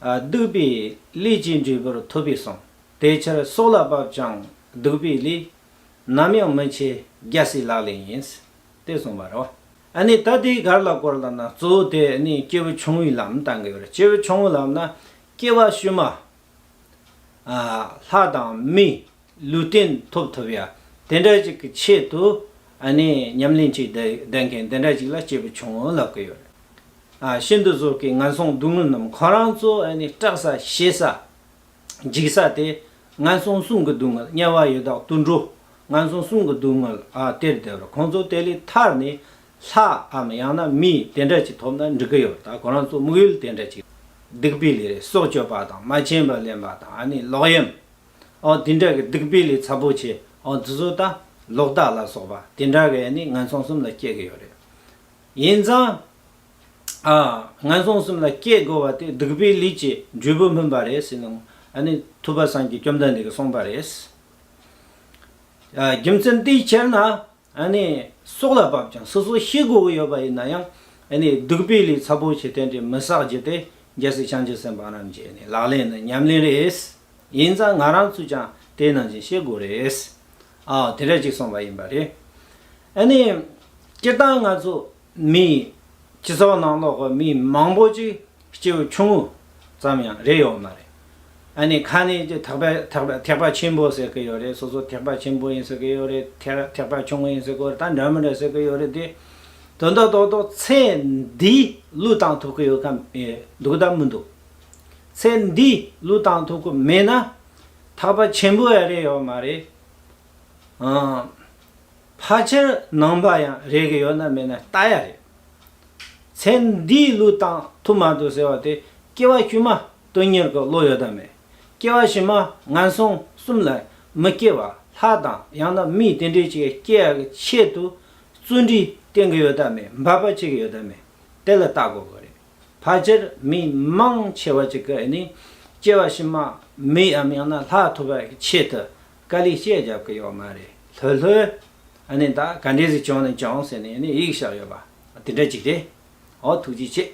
སྡུག་པའི་ལས་ཀྱིས་འབྲས་བུར་ཐོབ་པས་སོ། དེའི་ཕྱིར་སྲོག་ལ་བབ་ཀྱང་སྡུག་པའི་ལས། ནམ་ཡང་མི་བྱེད་རྒྱལ་སྲིད་ལག་ལེན་ཡིན། ཞེས་གསུངས་པར་རོ། ད་དེའི་གར་ལ་བསྐོར་ལ་ན་གཙོ་བོ་དེ་ནི་སྐྱེས་བུ་ཆུང་བའི་ལམ་དང་འགལ་བས་སྐྱེས་བུ་ཆུང་བའི་ལམ་ན་སྐྱེ་བ་བཤུལ་མ། ལྷ་དང་མི། ལུས་རྟེན་ཐོབ་ཐུབ་ཡ། དེ་འདྲ་ཅིག་གི་ཆེད་དུ་ཨ་ནི་ཉམས་ལེན་ཅིག་བསྡད་མཁན་དེ་འདྲ་ཅིག་ལ་སྐྱེས་བུ་ཆུང་ངུ་ལབ་གི་ཡོད་རེད། ཨ་ཤིན་ཏུ་ཟོར་གི་ངན་སོང་སྡུག་བསྔལ་རྣམས་ཁོ་རང་ཚོ་ཨ་ནི་སྐྲག་ས་ཤེས་ས། འཇིགས་ས་དེ། ངན་སོང་གསུམ་གི་སྡུག་བསྔལ་དམྱལ་བ་ཡི་དྭགས་དུད་འགྲོ། ངན་སོང་གསུམ་གི་སྡུག་བསྔལ་ཨ་དེར་བསྡད་རོགས་ཁོང་ཚོ་དེ་ལས་ཐར་ནས་ལྷ་འམ་ཡང་ན་མི་དེ་འདྲ་ཅིག་ཐོབ་ན་འགྲིག་གི་ཡོད་རེད་ད་ཁོ་རང་ཚོ་དམིགས་ཡུལ་དེ་འདྲ་ཅིག་རེད། སྡིག་པའི་ལས་རེད་སྲོག་གཅོད་པ་དང་མ་བྱན་པ་ལེན་པ་དང་ཨ་ནི་ལོག་གཡེམ། ཨོ་དེ་འདྲ་གི་སྡིག་སྤེལ་ལས་ཚ་པོ་ཆེ་ཨོ་འདི་ཚོ་ད་ལོག་ལྟ་ལ་སོགས་པ་དེ་འདྲ་གི་ནི་ངན་སོང་གསུམ་ལ་སྐྱེ་གི་ཡོད་རེད། ཡིན་ཙང། ཨ། ངན་སོང་གསུམ་ལ་སྐྱེ་དགོས་བ་དེ་སྡིག་པའི་ལུས་ཀྱི་འབྲས་བུ་མིན་པ་རེད་ཟེར་ནང་ཨ་ནི་ཐུབ་པ་སངས་ཀྱི་བཅོམ་ལྡན་འདས་ཀྱི་གསུངས་པ་རེད། རྒྱུ་མཚན་དེའི་ཕྱིར་ན་སྲོག་ལ་བབ་ཀྱང་སོ་སོ་ཤི་དགོས་ཀྱི་ཡོད་པ་ཡིན་ན་ཡང། སྡུག་པའི་ལས་ཚ་པོ་བྱེད་དོན་དེ་མི་བསགས་རྒྱུ་དེ་རྒྱལ་སྲིད་བྱང་ཆུབ་སེམས་དཔའ་རྣམས་ཀྱི་ལག་ལེན་ནི་ཉམས་ལེན་རེད། ཡིན་ཙང་ང་རང་ཚོས་ཀྱང་དེ་ནང་བཞིན་བྱེད་དགོས་རེད། དེ་འདྲ་ཅིག་སོང་བ་ཡིན་པ་རེད། སྤྱིར་བཏང་ང་ཚོ་མི། སྤྱི་ཚོགས་ནང་ལོག་གི་མི་མང་པོ་ཅིག་སྐྱེ་བོ་ཆུང་ངུ་ཙམ་ཡང་རེད་ཡོད་མ་རེད། ཨ་ནི་ཁ་ནས་ཀྱི་ཐག་པས་ཐག་པས་ཐེག་པ་ཆེན་པོ་ཟེར་གི་ཡོད་རེད་སོ་སོ་ཐེག་པ་ཆེན་པོ་ཡིན་ཟེར་གི་ཡོད་རེད་ཐེག་ཐེག་པ་ཆུང་ངུ་ཡིན་ཟེར་གི་ད་འདྲ་མི་འདྲ་ཟེར་གི་ཡོད་རེད་དེ། དོན་དག་རྡོག་རྡོག་ཚེ་འདིའི་བློས་བཏང་ཐུབ་གི་ཡོད་གམ་འདུག་གདའ་མི་འདུག། ཚེ་འདིའི་བློས་བཏང་ཐུབ་གི་མེད་ན་ཐག་པ་ཆེན་པོ་ཡང་རེད་ཡོད་མ་རེད། ཕ་ཆེར་ནང་པ་ཡང་རེག་གི་ཡོད་ན་མེད་ན་ལྟ་ཡ་རེད། ཚེ་འདིའི་བློས་བཏང་ཐུབ་མ་འདུག་ཟེར་བ་དེ་སྐྱེ་བ་དཀྱུས་མ་དོན་གཉེར་གི་བློ་ཡོད་དམ་མེད། སྐྱེ་བ་ཕྱི་མ་ངན་སོང་གསུམ་ལ་མི་སྐྱེ་བར་ལྷ་དང་ཡང་ན་མི་དེ་འདྲའི་ཅིག་སྐྱེ་ཡ་གི་ཆེད་དུ་བརྩོན་འགྲུས་བསྟེན་གི་ཡོད་དམ་མེད་འབད་པ་བྱེད་ཀྱི་ཡོད་དམ་མེད་དེ་ལ་ལྟ་དགོས་ཀྱི་རེད། ཕ་ཆེར་མི་མང་ཆེ་བ་ཅིག་གིས་ནི་སྐྱེ་བ་ཕྱི་མ་མི་འམ་ཡང་ན་ལྷ་ཐོབ་ཡ་གི་ཆེད་དུ་དཀའ་ལས་སྤྱད་རྒྱབ་ཀྱི་ཡོག་མ་རེད་ལྷོད་ལྷོད། ཨ་ནེ་ད་ག་འདྲའི་གཟིགས་སྐྱོང་ནས་བྱུང་ཟེར་ནས་ནི་ཡིད་ཞགས་ཡོད་པ་དེ་འདྲ་ཅིག་རེད་ཨོ་ཐུགས་རྗེ་ཆེ།